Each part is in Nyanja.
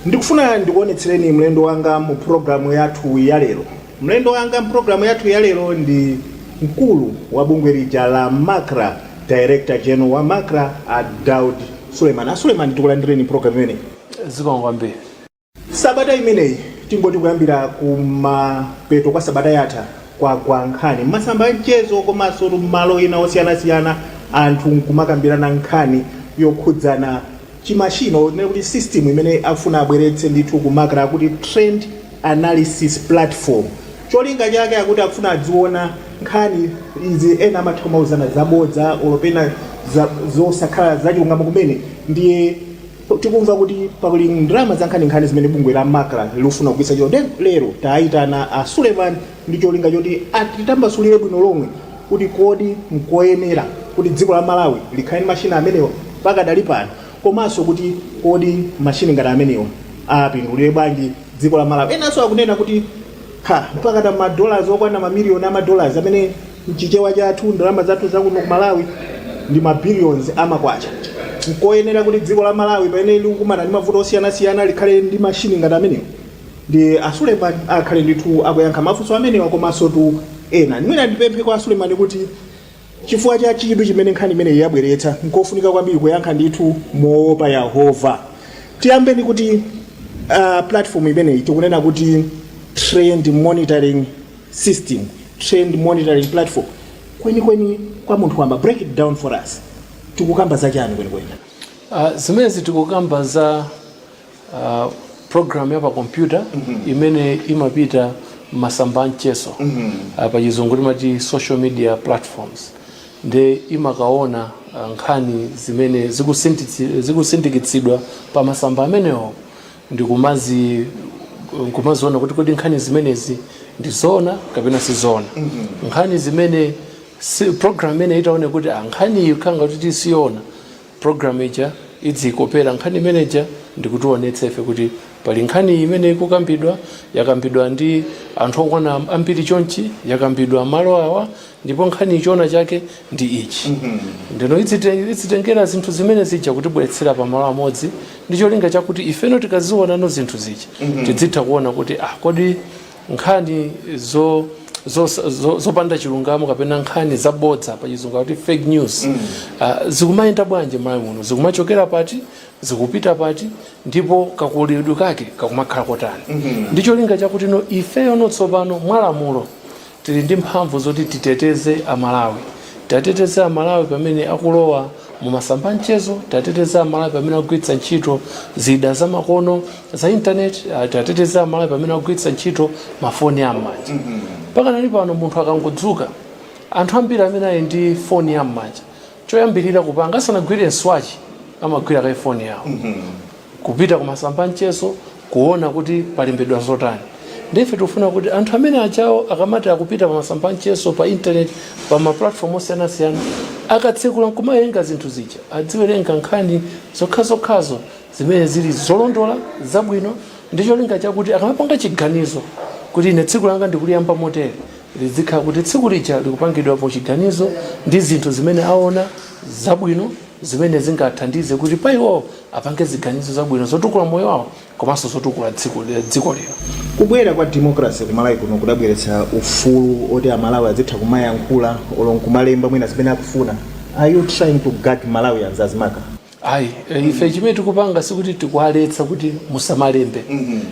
Ndikufuna ndikuonetsereni mlendo wanga mu pulogalamu yathu ya lero. Mlendo wanga m'pulogalamu yathu ya lero ndi mkulu wa bungwe lija la macra, Director General wa macra, a Daud Suleman. A Suleman, tikulandireni m'pulogalamu imeneyi. Zikomo kwambiri. Sabata imeneyi, tingoti kuyambira kumapeto kwa sabata yatha, kwagwa nkhani m'masamba a mchezo komansotu m'malo ena osiyanasiyana, anthu n'kumakambirana nkhani yokhudzana chi machine or tinene kuti system imene akufuna abweretse ndithu ku macra akuti trend analysis platform cholinga chake akuti akufuna adziona nkhani izi ena amatha kumauzana zabodza or pena za, zosakhala zachilungamo kumene ndiye tikumva kuti pakulowa ndalama zankhaninkhani zimene bungwe la macra likufuna kugwiritsa ntchito ndiye lero taitana a suleman ndi cholinga choti atitambasulire bwino lomwe kuti kodi nkoyenera kuti dziko la malawi likhale ndi mashini amenewa pakadali pano komanso kuti kodi mashini ngati amenewa apindulire bwanji dziko la malawi enanso akunena kuti ha mpakana madolars okwana mamiliyoni a madolars amene mchichewa chathu ndalama zathu zakuno ku malawi ndi mabillions amakwacha nkoyenera kuti dziko la malawi pamene likukumana ndi mavuto osiyanasiyana likhale ndi mashini ngati amenewa Ndiye a Suleman akhale ndithu akuyankha mafunso amenewa komansotu ena. Mwina ndipemphe kwa a Suleman kuti chifukwa cha chidwi chimene nkhani imeneyi yabweretsa, nkofunika kwambiri kuyankha ndithu moopa Yehova. Tiyambe ndi kuti ah, platform imeneyi tikunena kuti trend monitoring system, trend monitoring platform. Kwenikweni kwa munthu wamba, break it down for us. Tikukamba za chani kwenikweni? Uh, zimenezi tikukamba za uh, program ya pa kompyuta imene imapita m'masamba a mchezo uh, pa chizungu timati social media platforms nde imakaona uh, nkhani zimene zikusinditsi- zikusindikitsidwa pa masamba amenewo ndikumazi nkumaziona kuti kodi nkhani zimenezi ndi zoona kapena si zoona nkhani zimene si, program imene itaone kuti ah, nkhani iyi ikukhala ngati siyoona Program ija idziikopera nkhani imene ija ndikutiwonetsa ife kuti pali nkhani iyi imene ikukambidwa, yakambidwa ndi anthu okwana ambiri chonchi, yakambidwa malo awa ndipo nkhaniyi choona chake ndi ichi. Ndeno idzite- idzitengera zinthu zimene zija kutibweretsera pamalo amodzi ndi cholinga chakuti ifeno tikaziwonano zinthu zija tidzitha kuona kuti ah, kodi nkhani zo zos- zo- zopanda chilungamo kapena nkhani zabodza pa chizungu akuti fake news Ah, zikumayenda bwanji Malawi muno zikumachokera pati zikupita pati ndipo kakulidwe kake kakumakhala kotani ndi cholinga chakuti no ifeyo no tsopano mwalamulo tili ndi mphamvu zoti titeteze amalawi tateteze amalawi pamene akulowa mumasamba amchezo tiateteze amalawi pamene akugwiritsa ntchito zida zamakono za intaneti ah, tiateteze amalawi pamene akugwiritsa ntchito mafoni am'manja pakadali pano munthu akangodzuka anthu ambiri amene ali ndi foni yam'manja choyambirira kupanga asanagwire mswachi amagwira kaye foni yawo kupita kumasamba amchezo kuona kuti palembedwa zotani ndiye ife tikufuna kuti anthu amene ajawo akamati akupita pa masamba amchezo pa internet pa maplatform osiyanasiyana akatsekula nkumawerenga zinthu zija adziwerenga nkhani zokhazokhazo zimene zili zolondola zabwino ndi cholinga chakuti akamapanga chiganizo kuti ine tsiku langa ndikuliyamba motere lizikhala kuti tsiku lija likupangidwapo chiganizo ndi zinthu zimene aona zabwino zimene zingathandize kuti pa iwowo apange ziganizo zabwino zotukula moyo wawo komanso zotukula dziko lino. Kubwera kwa democracy ku Malawi kuno kudabweretsa ufulu oti Amalawi azitha kumayankhula olo nkumalemba mwina zimene akufuna. Are you trying to gag Malawians as MACRA? Ayi, eh, ife chimene tikupanga sikuti tikuwaletsa kuti musamalembe.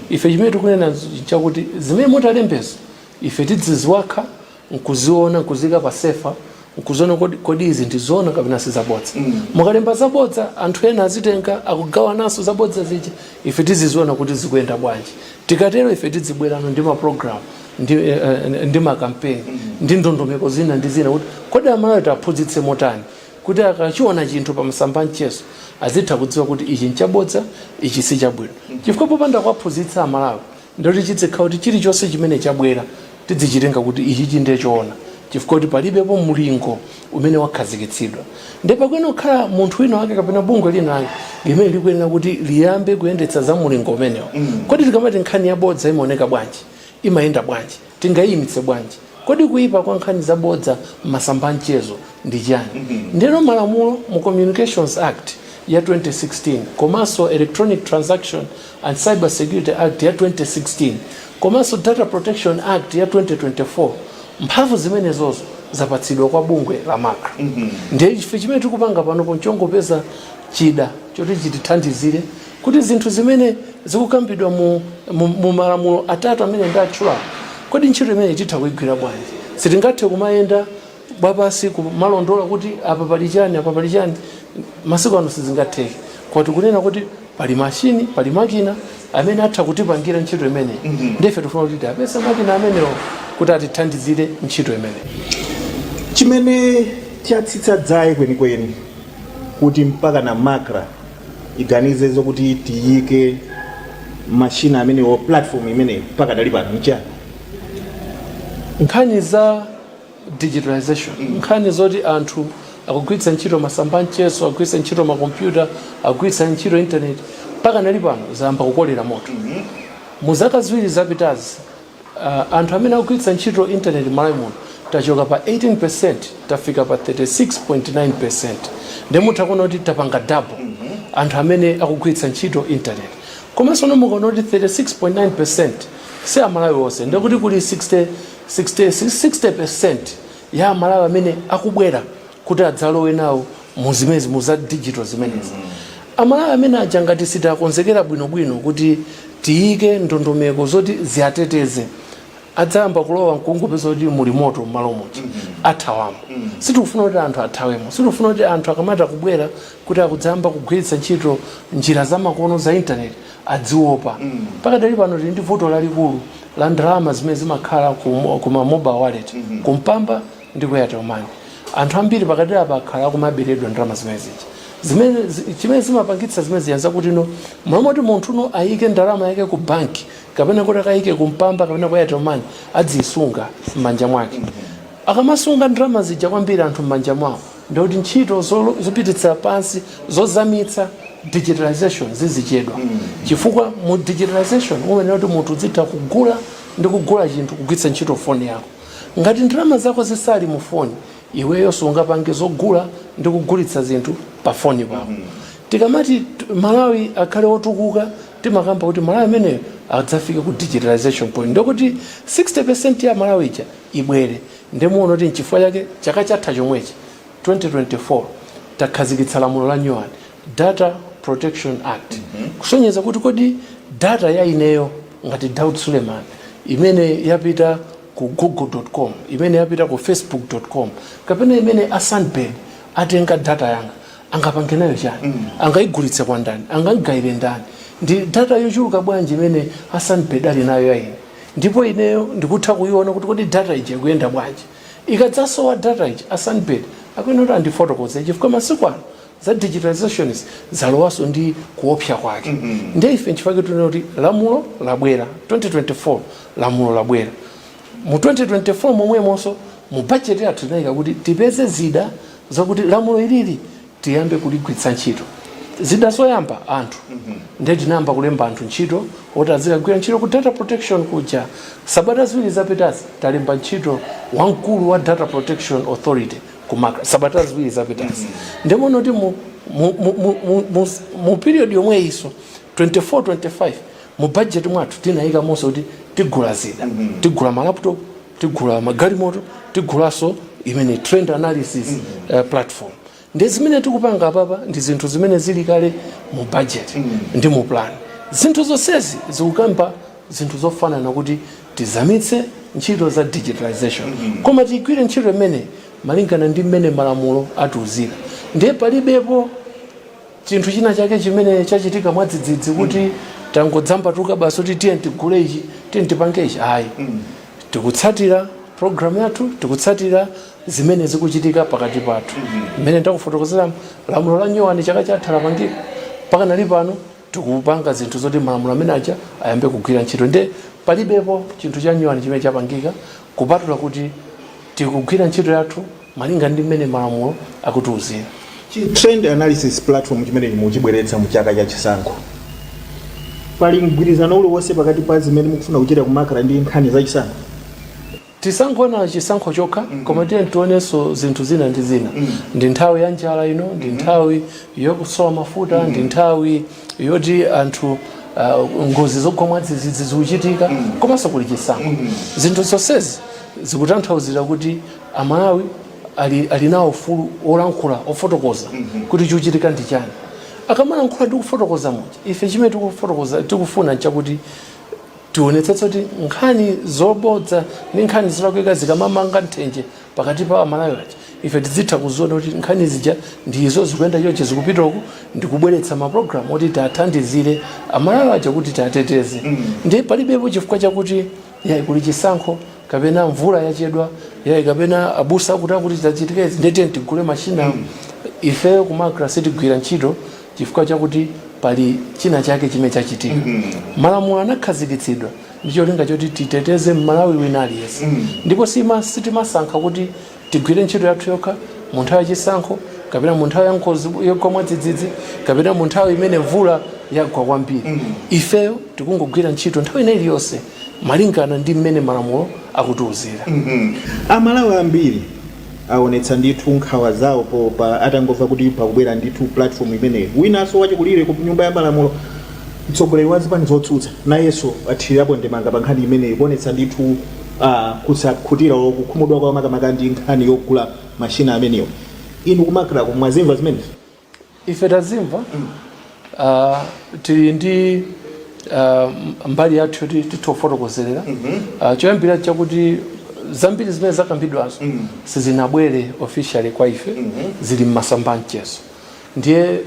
Ife chimene tikunena nchakuti zimene mutalembezo ife tidziziwakha nkuziona nkuziika pa sefa nkuziona kodi, kodi izi ndizoona kapena sizabodza mm. mukalemba zabodza anthu ena azitenga akugawananso zabodza zija ife tiziziona kuti zikuyenda bwanji tikatero ife tidzibwerano ndi maprogramu ndi, eh, eh, ndi makampeni mm. ndi ndondomeko zina ndi zina kuti kodi amalawi tiaphunzitse motani kuti akachiona chinthu pa masamba amchezo azitha kudziwa kuti ichi nchabodza ichi sichabwino mm. chifukwa popanda kuwaphunzitsa amalawi Ndoti chidzikhala kuti chilichonse chimene chabwera tidzichitenga kuti ichichi nde choona chifukwa chakuti palibepo mulingo umene wakhazikitsidwa nde pakuyenera kukhala munthu wina wake kapena bungwe lina lake limene likuyenera kuti liyambe kuyendetsa za mulingo umenewo. Kodi tikamati nkhani yabodza imaoneka bwanji? Imayenda bwanji? tingaiimitse bwanji? Kodi kuipa kwa nkhani zabodza m'masamba a mchezo ndi chiyani? Ndiyeno malamulo mu Communications Act ya 2016 komanso Electronic Transaction and Cyber Security Act ya 2016 komanso Data Protection Act ya 2024, mphamvu zimenezozo zapatsidwa kwa bungwe la macra. Ndiye ife chimene tikupanga panopo n'chongopeza chida choti chitithandizire Kuti zinthu zimene zikukambidwa mu mu malamulo atatu amene ndatchulawa, kodi ntchito imeneyi titha kuigwira bwanji? Sitingathe kumayenda wapansi kumalondola kuti apa pali chani apa pali chani masiku ano sizingatheke koma tikunena kuti pali machine pali makina amene atha kutipangira ntchito imeneyi mm -hmm. ndife tifuna kuti tiapeze makina amenewo kuti atithandizire ntchito imeneyi chimene chatsitsa dzaye kwenikweni kuti mpaka a MACRA tiganize zokuti tiyike mashina amenewo platform imeneyo mpaka dali pano nchani nkhani za digitalization nkhani zoti anthu akugwiritsa ntchito masamba anchezo akugwiritsa ntchito makompyuta akugwiritsa ntchito intaneti mpaka dali pano zayamba kukolera moto mu zaka ziwiri zapitazi Anthu amene akugwiritsa ntchito intaneti m'Malawi muno tachoka pa 18% tafika pa 36.9% ndiye mutha kuona kuti tapanga double anthu amene akugwiritsa ntchito intaneti. Komanso no mukuona kuti 36.9% si Amalawi onse ndiye kuti kuli 60% ya Amalawi amene akubwera kuti adzalowe nawo mu zimezi mu za digital zimenezi amalawi amene aja ngati sitakonzekera bwinobwino kuti tiyike ndondomeko zoti ziateteze adzayamba kulowa nkungopeza kuti muli moto mmalo moti athawamo sitikufuna kuti anthu athawemo sitikufuna kuti anthu akamabwera kuti akudzayamba kugwiritsa ntchito njira zamakono za intaneti adziopa pakadali pano tili ndi vuto lalikulu la ndalama zimene zimakhala ku ku ma mobile wallet kumpamba ndi ku airtel money anthu ambiri pakati apa akhala akumaberedwa ndalama zimene zija zimene zi- chimene zimapangitsa zimene zija zakuti mmalo moti munthu no ayike ndalama yake ku banki kapena kuti akayike ku mpamba kapena ku airtel money adziyisunga m'manja mwake akamasunga ndalama zija kwambiri anthu m'manja mwawo ndekuti ntchito zolo- zopititsa patso- zozamitsa digitalization zizichedwa chifukwa mu digitalization umayenera kuti munthu udzitha kugula ndi kugula chinthu kugwiritsa ntchito foni yako Ngati ndalama zako zisali mu foni, iweyo sungapange zogula ndi kugulitsa zinthu pa foni pako. Tikamati Malawi akhale otukuka, timakamba kuti Malawi ameneyo adzafike ku digitalization point ndekuti 60% ya Malawi ija ibwere. Nde muona kuti nchifukwa chake chaka chatha chomwechi, 2024, takhazikitsa lamulo la nyuwani Data Protection Act kusonyeza kuti kodi data ya ineyo ngati Daud Suleiman imene yapita ku google.com imene yapita ku facebook.com kapena imene a Sunbird atenga data yanga angapange nayo chani angaigulitse kwa ndani angaigayire ndani ndi data yochuluka bwanji imene a Sunbird ali nayo ya ine ndipo ineyo ndikutha kuiona kuti kodi data ija ikuyenda bwanji ikadzasowa data ija a Sunbird akuyenera kuti andifotokoze chifukwa masiku ano za digitalizations zalowaso ndi kuopsa kwake mm -hmm. nde ife nchifukwa tikunena kuti lamulo labwera 2024 lamulo labwera mu 2024 momwemonso mu budget yathu tinayika kuti tipeze zida zakuti lamulo ilili tiyambe kuligwiritsa ntchito zida zoyamba anthu mm -hmm. nde tinayamba kulemba anthu ntchito oti azikagwira ntchito ku data protection kuja sabata ziwiri zapitazi talemba ntchito wamkulu wa data protection authority ku Macra sabata ziwiri zapitazi nde muona kuti mu, mu period yomweyinso 24 25 mu budget mwathu tinayikamonso kuti tigula zida tigula malaptop tigula magalimoto tigulanso imene trend analysis uh, platform ndi zimene tikupanga apapa ndi zinthu zimene zili kale mu budget ndi mu plan zinthu zonsezi zikukamba zinthu zofanana kuti Tizamitse ntchito za digitalisation koma tigwire ntchito imeneyi malingana ndi mmene malamulo atiuzira ndiye palibepo chinthu china chake chimene chachitika mwadzidzidzi kuti tangodzambatuka basi kuti tiyeni tigule ichi tiyeni tipange ichi ayi tikutsatira programu yathu tikutsatira zimene zikuchitika pakati pathu mmene ndakufotokozeramo lamulo la nyuwani chaka chatha lapangika mpaka nali pano tikupanga zinthu zoti malamulo amene aja ayambe kugwira ntchito nde palibepo chinthu chanyuwani chimene chapangika kupatula kuti tikugwira ntchito yathu malinga ndi mmene malamulo akutiuzira trend analysis platform chimene muchibweretsa mu chaka cha chisankho pali mgwirizano uliwonse pakati pa zimene mukufuna kuchita ku Macra ndi nkhani za chisankho Tisangoona chisankho chokha koma tiyeni tionenso zinthu zina ndi zina. Ndi nthawi ya njala ino, ndi nthawi yokusowa mafuta, ndi nthawi yoti anthu ah, ngozi zogwa mwadzidzidzi zikuchitika komanso kuli chisankho. Zinthu zonsezi zikutanthauzira kuti Amalawi ali, ali nawo ufulu wolankhula ofotokoza kuti chikuchitika ndi chani. Akamalankhula ndi kufotokoza muja ife chimene tikufuna nchakuti Tionetsetse kuti nkhani zobodza ndi nkhani zolakwika zikamamanga nthenje pakati pa Amalawi aja, ife tidzitha kuziona kuti nkhani zija ndi izo, zikuyenda chonchi, zikupita uku, ndi kubweretsa mapulogalamu oti tiathandizire Amalawi aja kuti tiateteze. Ndiye palibepo chifukwa chakuti yayi kuli chisankho kapena mvula yachedwa, yayi kapena abusa akuti akuti zachitika izi ndiye tiyeni tigule mashini awa. Ifeyo ku Macra sitigwira ntchito chifukwa chakuti pali china chake chimene chachitika mm -hmm. malamulo anakhazikitsidwa ndi cholinga choti titeteze mmalawi wina aliyense mm -hmm. ndipo sitimasankha kuti tigwire ntchito yathu yokha mu nthawi yachisankho kapena mu nthawi ya ngozi yogwa mwadzidzidzi kapena mu nthawi imene mvula yagwa kwambiri mm -hmm. ifeyo tikungogwira ntchito nthawi ina iliyonse malingana ndi mmene malamulo akutiuzira mm -hmm. amalawi ambiri awonetsa ndithu nkhawa zawo po pa atangomva kuti pakubwera ndithu platform imeneyi winanso wachikulire ku nyumba ya malamulo mtsogoleri wa zipani zotsutsa nayenso athirirapo ndemanga pa nkhani imeneyi kuonetsa ndithu ah, kusakhutira olo kukhumudwa kwa makamaka ndi nkhani yogula mashina amenewa inu ku Macra ko mwazimva zimenezi ife tazimva uh, tili ndi uh, mbali yathu yoti titha kufotokozerera uh, choyambira chakuti zambiri zimene zakambidwazo sizinabwere officially kwa ife zili mmasamba a mchezo ndiye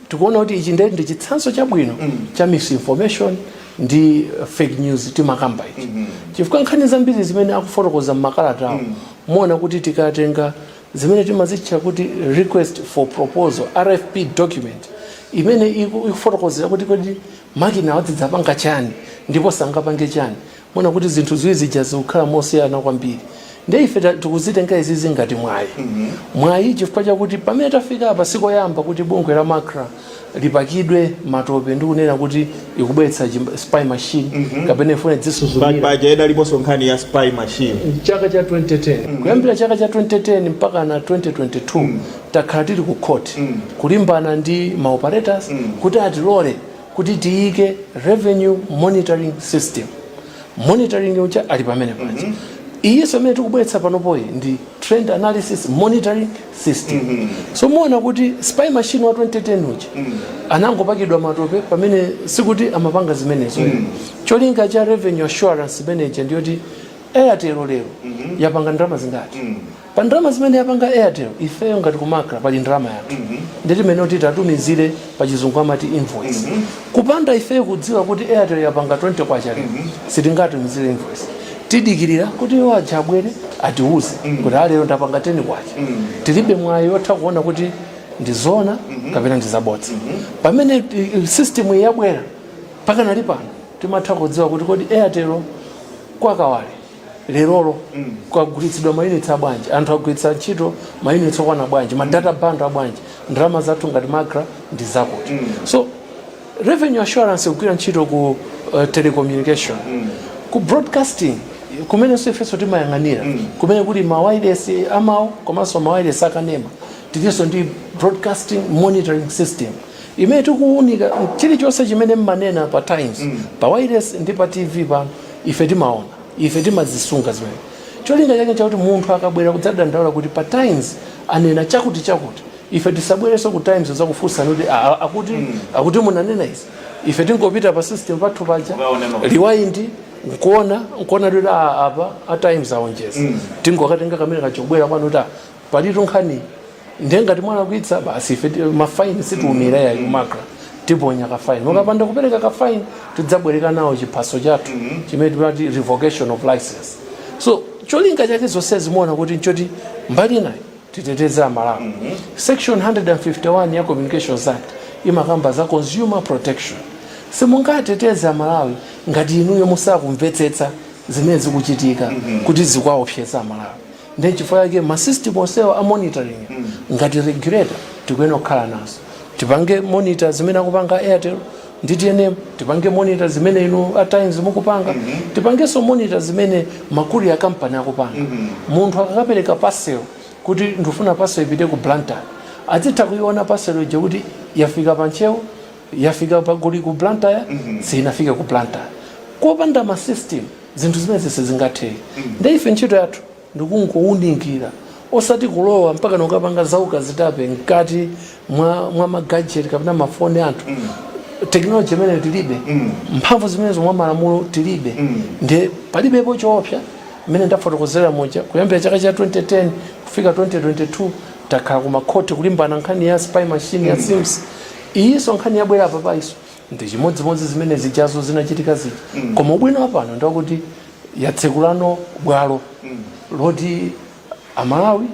tikuona kuti ichi ndiye ndi chitsanzo chabwino cha misinformation ndi uh, fake news timakamba ichi chifukwa nkhani zambiri zimene akufotokoza mmakalatawo muona kuti tikatenga zimene timazitcha kuti request for proposal rfp document imene iku- ikufotokozera kuti kodi makina awa azidzapanga chani ndipo sangapange chani muona kuti zinthu ziwiri zija zikukhala mosiyana kwambiri nde ife ta- tikuzitenga izizi ngati mwayi mwayi chifukwa chakuti pamene tafika apa sikoyamba kuti bungwe la macra lipakidwe matope ndi kunena kuti ikubweretsa chim- spy machine kapena ifuna idzisuzumira paja idaliponso nkhani ya spy machine chaka cha 2010 kuyambira chaka cha 2010 mpaka na 2022 takhala tili ku court kulimbana ndi ma operators kuti atilole kuti tiyike revenue monitoring system monitoring uja ali pamene paja iyiso imene tikubweretsa panopoyi ndi trend analysis monitoring system mm -hmm. so muona kuti spy machine wa 2010 uja mm -hmm. anangopakidwa matope pamene sikuti amapanga zimenezo mm -hmm. cholinga cha revenue assurance manager ndiyoti airtel lero mm -hmm. yapanga ndalama zingati mm -hmm. pa ndalama zimene yapanga airtel ifeyo ngati ku macra pali ndalama yathu mm -hmm. ndiye timayenera kuti tiwatumizire pachizungu amati invoice mm -hmm. kupanda ifeyo kudziwa kuti airtel yapanga 20 kwacha mm -hmm. sitingatumizire invoice tidikirira kuti iwo aja abwere atiuze mm -hmm. kuti a lero ndapanga 10 kwacha mm -hmm. tilibe mwayi otha kuona kuti ndizona mm -hmm. kapena ndizabodza mm -hmm. pamene eh, system iyi yabwera pakanali pano timatha kudziwa kuti kodi airtel kwakawale lerolo kwagulitsidwa mayunitsi abwanji anthu agwiritsa ntchito mayunitsi okwana bwanji madata bundle abwanji ndalama zathu ngati macra ndi zakuti so revenue assurance kugwira ntchito ku uh, telecommunication ku broadcasting kumenenso ifenso timayang'anira kumene kuli mawailesi amawu komanso mawailesi akanema tilinso ndi broadcasting monitoring system imene tikuwunika chilichonse chimene mmanena pa times mm. pa wailesi ndi pa tv pano ife timaona ife timazisunga zimene cholinga chake chakuti munthu akabwera kudzadandaula kuti pa times anena chakuti chakuti ife tisabwereso ku times kudzakufunsani kuti akuti mm. akuti munanena izi ife tingopita pa system pathu paja rewind nkuona nkuona kuti apa a times aonjeza mm. tingokatenga kamene kachobwera kwanu kuti palitu nkhani ndiye ngati mwalakwitsa basi ife ti- mafaini sitiumira yayi kumakra tiponya kafaini mukapanda kupereka kafaini tidzabwereka nao chiphaso chathu chimene timati revocation of license so cholinga chake zonse zimaoneka kuti nchoti mbali inayi titeteze amalawi section 151 ya communications act imakamba za consumer protection simungateteze amalawi ngati inuyo musakumvetsetsa zimene zikuchitika kuti zikuwaopseza amalawi ndiye chifukwa chake ma system onsewa a monitoring ngati regulator tikuyenera kukhala nazo tipange monitor zimene akupanga airtel ndi tnm tipange monitor zimene inu a times mukupanga tipangenso monitor zimene ma courier company akupanga munthu akakapereka parcel kuti ndikufuna parcel ipite ku blantyre azitha kuiona parcel ija kuti yafika pa ntcheu yafika pagoli ku blantyre siinafike ku blantyre kopanda ma system zinthu zimenezi sizingatheke nde ife ntchito yathu ndikungowunikira osati kulowa mpakano kapanga zaukazitape mkati mwa, mwa magajeti kapena mafoni a anthu teknoloji imeneyo tilibe mphamvu zimenezo mwa malamulo tilibe nde palibepo choopsa mmene ndafotokozera muja kuyambira chaka cha 2010 kufika 2022 takhala kumakhoti kulimbana nkhani ya spy machine ya cirms iyinso nkhani yabwera apapayinso ndi chimodzimodzi zimene zijazo zinachitika zija mm. koma ubwino wapano ndiwakuti yatsekulano bwalo mm. loti amalawi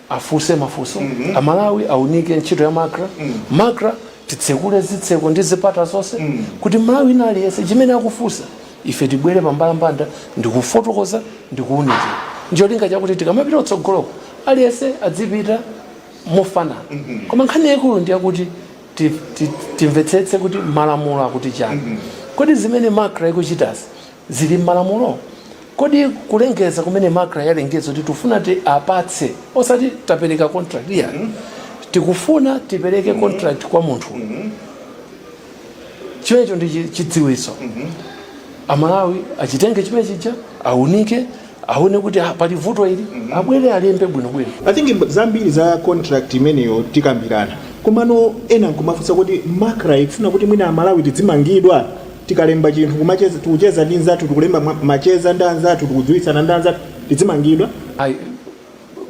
afunse mafunso mm -hmm. amalawi aunike ntchito ya macra mm. macra titsekule zitseko ndi zipata zonse mm. kuti mmalawi wina aliyense chimene akufunsa ife tibwere pambalambanda ndikufotokoza ndikuunikira ndicholinga chakuti tikamapita kutsogoloko aliyense adzipita mofanana koma nkhani yaikulu ndi yakuti ti- ti- timvetsetse kuti malamulo akuti chani kodi zimene macra ikuchitazi zili mmalamulo kodi kulengeza kumene macra yalengeza kuti tifuna tiwapatse osati tapereka contract iyayi tikufuna tipereke contract kwa munthu chimenecho ndi chi- chidziwitso amalawi achitenge chimene chija aunike aone kuti ah, pali vuto ili abwere alembe bwinobwino i think mb- zambiri za contract imeneyo tikambirana komano ena nkumafunsa kuti macra ikufuna kuti mwina amalawi tidzimangidwa tikalemba chinthu kumacheza- tikucheza ndi nzathu tikulemba ma- macheza ndi anzathu tikudziwitsana ndi anzathu tidzimangidwa ayi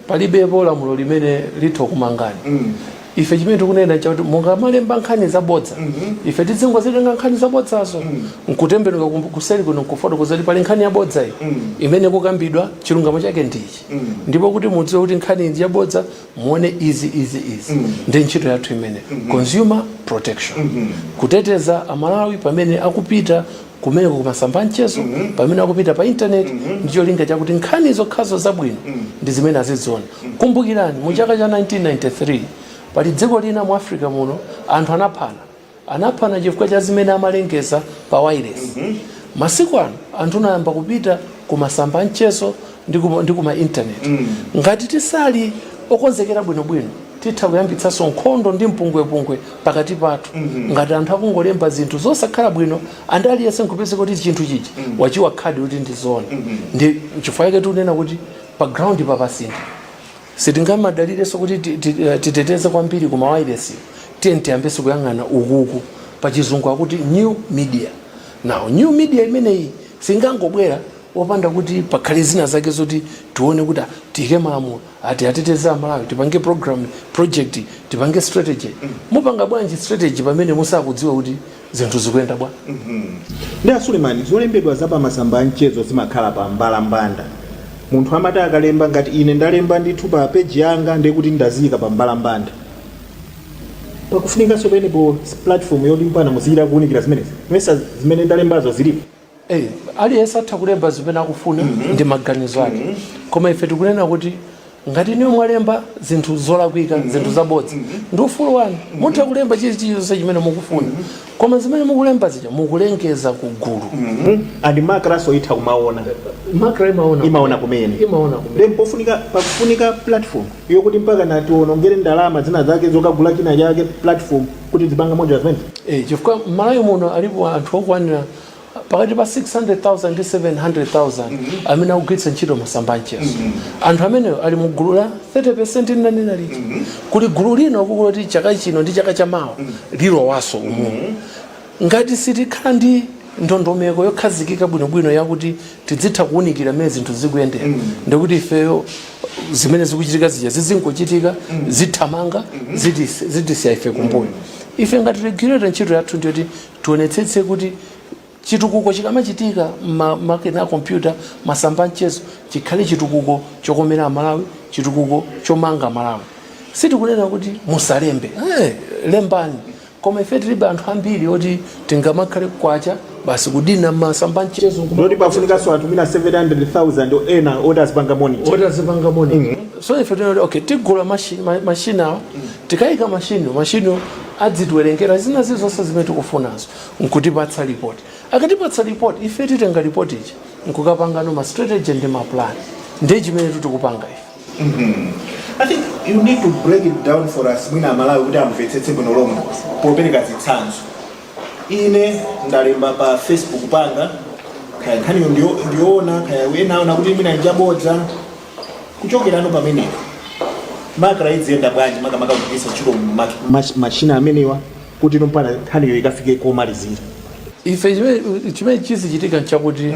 palibepo lamulo limene litha kukumangani mm. ife chimene tikunena chakuti mukamalemba nkhani zabodza mm -hmm. ife tidzingozitenga nkhani zabodzazo mm. nkutembenuka kuseri kuno nkufotokoza kuti pali nkhani yabodza iyi mm. imene ikukambidwa chilungamo chake ndichi mm. ndipo kuti mudziwe kuti nkhani ndi yabodza muone izi izi izi mm. ndi ntchito yathu imene mm -hmm. consumer protection mm -hmm. kuteteza amalawi pamene akupita kumeneko kumasamba a mchezo mm -hmm. pamene akupita pa internet mm -hmm. ndi cholinga chakuti nkhani zokhazo zabwino mm -hmm. ndi zimene aziziona mm -hmm. kumbukirani mu chaka cha 1993 pali dziko lina mu africa muno anthu anaphana anaphana chifukwa cha zimene amalengeza pa wailesi mm -hmm. masiku ano anthu anayamba kupita ku masamba a mchezo ndi ku ma intaneti mm. ngati tisali okonzekera bwinobwino titha kuyambitsanso nkhondo ndi mpungwepungwe pakati pathu mm -hmm. ngati anthu akungolemba zinthu zosakhala bwino and aliyense nkupeza kuti chinthu chichi mm -hmm. wachiika adi kuti ndi zona mm -hmm. ndi chifukwa chake tikunena kuti pa ground papasintha sitingamadalirenso kuti eh, titeteze kwambiri ku mawailesi tiyeni tiyambenso kuyang'ana ukuku pa chizungu akuti new media now new media imeneyi singangobwera opanda kuti pakhale zina zake zoti tione kuti ah, tiyike malamulo oti ateteze amalawi tipange program project tipange strategy mupanga bwanji strategy pamene musakudziwa kuti zinthu zikuyenda bwa ndi asulemani zolembedwa za pamasamba a mchezo zimakhala pa mbalambanda munthu amati akalemba ngati ine ndalemba ndithu pa peji yanga ndekuti ndaziyika pa mbalambanda pakufunikanso penepo platform yoti mpakana muziyika kuwunikira zimenezi mesa zimene ndalembazo zilipo Hey, aliyense atha kulemba zimene akufuna mm -hmm. ndi maganizo ake mm -hmm. koma ife tikunena kuti ngati inuyo mwalemba zinthu zolakwika mm -hmm. zinthu zabodza mm -hmm. ndi ufulu wanu mm -hmm. mutha kulemba chilichonse chimene mukufuna mm -hmm. koma zimene mukulemba zija mukulengeza ku gulu mm -hmm. and MACRA-nso itha kumaona MACRA imaona imaona kumene imaona kumene then pofunika pakufunika platform yokuti mpaka natiwonongere ndalama zina zake zokagula china chake platform kuti tipange monitor zimene Eh, chifukwa mmalawi muno alipo anthu okwanira pakati pa 600000 ndi 700000 amene akugwiritsa ntchito masamba a mchezo anthu amenewo ali mu gulu la 30 ndinanena lija kuli gulu lina ukulo loti chaka chino ndi chaka cha mawa lilowanso umu ngati sitikhala ndi ndondomeko yokhazikika bwinobwino yakuti tizitha kuunikira mmene zinthu zikuyendera mm. ndikuti ifeyo zimene zikuchitika zija zizingochitika mm. zithamanga mm-hmm. zitisiya ife kumbuyo mm. ife ngati regulator ntchito yathu ndiyoti tionetsetse kuti chitukuko chikamachitika makina a kompyuta masamba a mchezo chikhale chitukuko chokomera amalawi chitukuko chomanga malawi sitikunena kuti musalembe hey, eh, lembani koma ife tilibe anthu ambiri oti tingamakhale kwacha basi kudina masamba a mchezo ndiye kuti pafunikanso anthu ena 700000 ena oti azipanga monitor oti azipanga monitor so ife tinati okay tigula mashini ma- mashini awa tikayika mashini mashini adzitiwerengera zina zilizonse zimene tikufunazo nkutipatsa ripoti akatipatsa ripoti ife titenga ripoti ija nkukapangano ma strategy ndi ma plan ndiye chimene tikupanga ife I think you need to break it down for us mwina amalawi kuti amvetsetse bwino lomwe popereka zitsanzo ine ndalemba pa facebook panga kaya nkhaniyo ndiyo- ndiyoona kaya ena aona kuti mwina njabodza kuchokerano pamenepo macra idziyenda bwanji makamaka kugwiritsa ntchito ma- ma- machina amenewa kuti ino mpaka nkhaniyo ikafike komalizira ife chimene chimene chizichitika nchakuti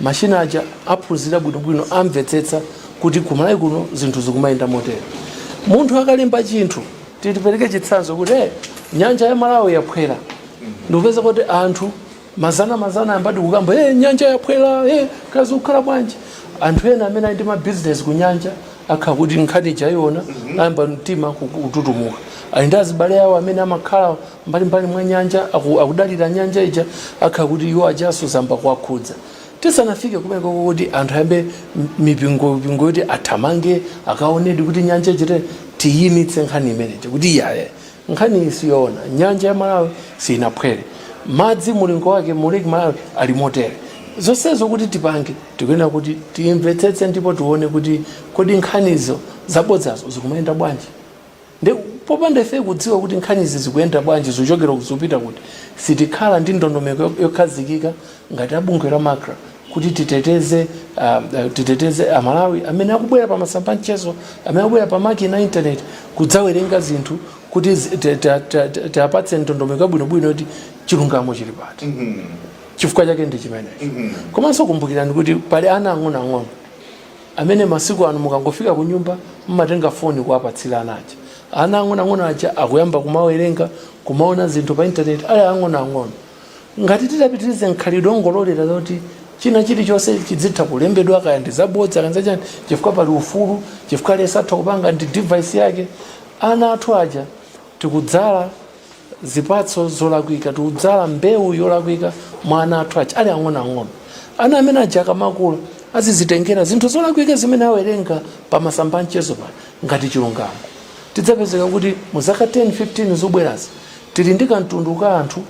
Machina aja aphunzira bwinobwino amvetsetsa kuti ku Malawi kuno zinthu zikumayenda motere. Munthu akalemba chinthu tipereke chitsanzo kuti eh, nyanja ya Malawi yaphwera ndikupeza kuti anthu mazana mazana ayambadi kukamba eh, nyanja yaphwera eh, kaya zikukhala bwanji anthu ena amene ali ndi mabizinesi ku nyanja akhala kuti nkhani ija aiona ayamba mtima kututumuka ali ndi azibale awo amene amakhala mbalimbali mwa nyanja aku, akudalira nyanja ija akhala kuti iwo ajanso zayamba kuwakhudza tisanafike kumeneko kuti anthu ayambe m- mipingo mipingo yoti athamange akaonedi kuti nyanja ichite tiyimitse nkhani imene ija kuti iyayi nkhani iyi siyoona nyanja ya malawi siyinaphwere madzi mulingo wake mu lake malawi ali motere zonsezo kuti tipange tikuyenera kuti timvetsetse ndipo tione kuti kodi nkhanizo zabodzazo zikumayenda bwanji Nde popanda ifeyo kudziwa kuti nkhanizi zikuyenda bwanji, zikuchokera kuti zikupita kuti, sitikhala ndi ndondomeko yokhazikika ngati a bungwe la macra kuti titeteze titeteze a Malawi amene akubwera pa masamba a mchezo, amene akubwera pa makina a internet kudzawerenga zinthu kuti tiwapatse ndondomeko yabwino bwino yoti chilungamo chili pati. Chifukwa chake ndi chimenecho. Komanso kumbukirani kuti pali ana ang'ono ang'ono. amene masiku ano mukangofika kunyumba mumatenga foni kuwapatsira ana aja ana ang'onoang'ono aja akuyamba kumawerenga kumaona zinthu pa intaneti ali ang'onoang'ono ngati titapitirize mkhalidwe ongololera zoti china chilichonse chidzitha kulembedwa kaya ndi zabodza kaya ndi zachani chifukwa pali ufulu chifukwa aliyense atha kupanga ndi device yake ana athu aja tikudzala zipatso zolakwika tikudzala mbewu yolakwika mwa ana athu aja ali ang'onoang'ono ana amene aja akamakula azizitengera zinthu zolakwika zimene awerenga pa masamba a mchezo pano ngati chilungamo tidzapezeka kuti mu zaka 10 15 zobwerazi tili ndi kamtundu ka anthu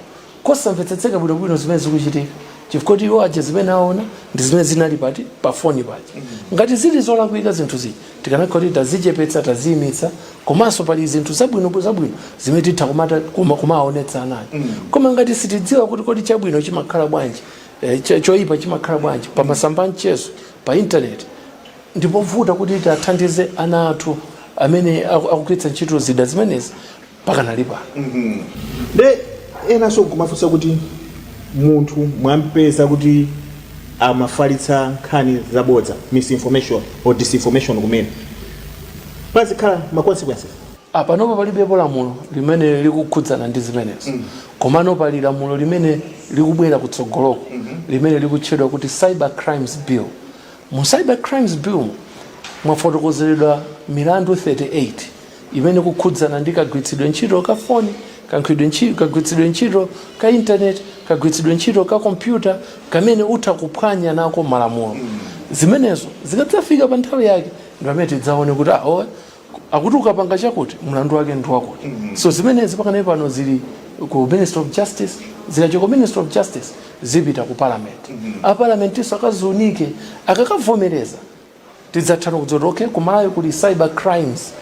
kosamvetsetseka bwinobwino zimene zikuchitika chifukwa kuti iwo aja zimene aona ndi zimene zinali pati pa foni paja ngati zili zolakwika zinthu zija Tikanakhala kuti tazichepetsa, taziimitsa komanso pali zinthu zabwino zabwino zimene titha kumata kuma- kumawaonetsa ana aja koma ngati sitidziwa kuti kodi chabwino chimakhala bwanji eh, cho- choyipa chimakhala bwanji pa masamba a mchezo pa intaneti ndipovuta kuti tiwathandize ana athu amene aku- akugwiritsa ntchito zida zimenezi pakanali pano nde enanso kumafunsa kuti munthu mwampeza kuti amafalitsa nkhani zabodza misinformation or disinformation kumene pazikhala ma consequences apanopa palibepo lamulo limene likukhudzana ndi zimenezo komano pali lamulo limene likubwera kutsogoloko limene likutchedwa kuti cyber crimes bill Mu Cyber Crimes Billmu mwafotokozeredwa milandu 38 imene ikukhudzana ndi kagwiritsidwe ntchito ka foni, kagwiritsidwe ntchito ka internet, kagwiritsidwe ntchito ka kompyuta kamene utha kuphwanya nako malamulo. Zimenezo zikadzafika pa nthawi yake ndi pamene tidzaone kuti aa awa akuti ukapanga chakuti mlandu wake ndi wakuti mm-hmm. so zimenezi pakanali pano zili ku ministry of justice zikachoka ministry of justice zipita ku parliament mm-hmm. a parliament nso akaziunike akakavomereza tidzatha no kudzati okay kumalawi kuli cyber crimes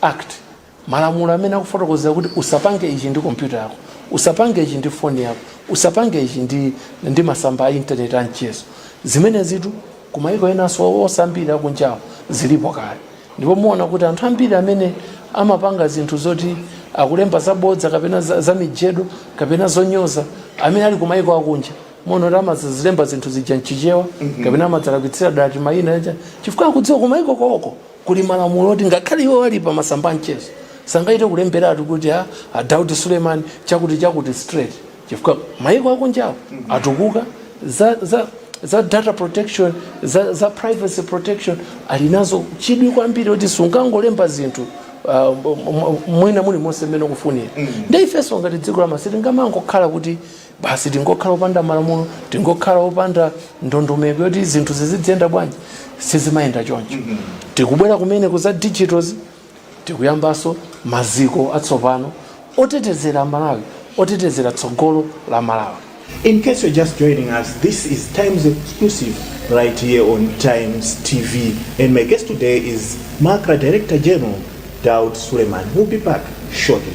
act malamulo amene akufotokozera kuti usapange ichi ndi kompyuta yako usapange ichi ndi foni yako usapange ichi ndi, ndi masamba a intaneti a mchezo zimenezitu Ku mayiko enanso oo ambiri akunjawo zilipo kale ndipo muona kuti anthu ambiri amene amapanga zinthu zoti akulemba zabodza kapena za, za mijedu kapena zonyoza amene ali ku mayiko akunja muona kuti amazilemba zinthu zija mchichewa kapena amazalakwitsira dala ati mayina aja chifukwa akudziwa ku mayiko koko kuli malamulo oti ngakhale iwo ali pa masamba a mchezo sangathe kulemberatu kuti a, a Daudi Suleiman chakuti chakuti straight chifukwa maiko akunjawo atukuka za, za, za data protection za, za privacy protection ali nazo chidwi kwambiri kuti sungangolemba zinthu uh, mwina mulimonse mmene ukufunira mm. nde ifenso ngati dziko la ma- sitingamangokhala kuti basi tingokhala opanda malamulo tingokhala opanda ndondomeko yoti zinthu ziziyenda bwanji sizimayenda choncho mm -hmm. tikubwera kumeneku za digitals tikuyambaso maziko atsopano otetezera amalawi otetezera tsogolo la malawi In case you're just joining us, this is Times Exclusive right here on Times TV. And my guest today is Macra Director General Daud Suleiman. We'll be back shortly.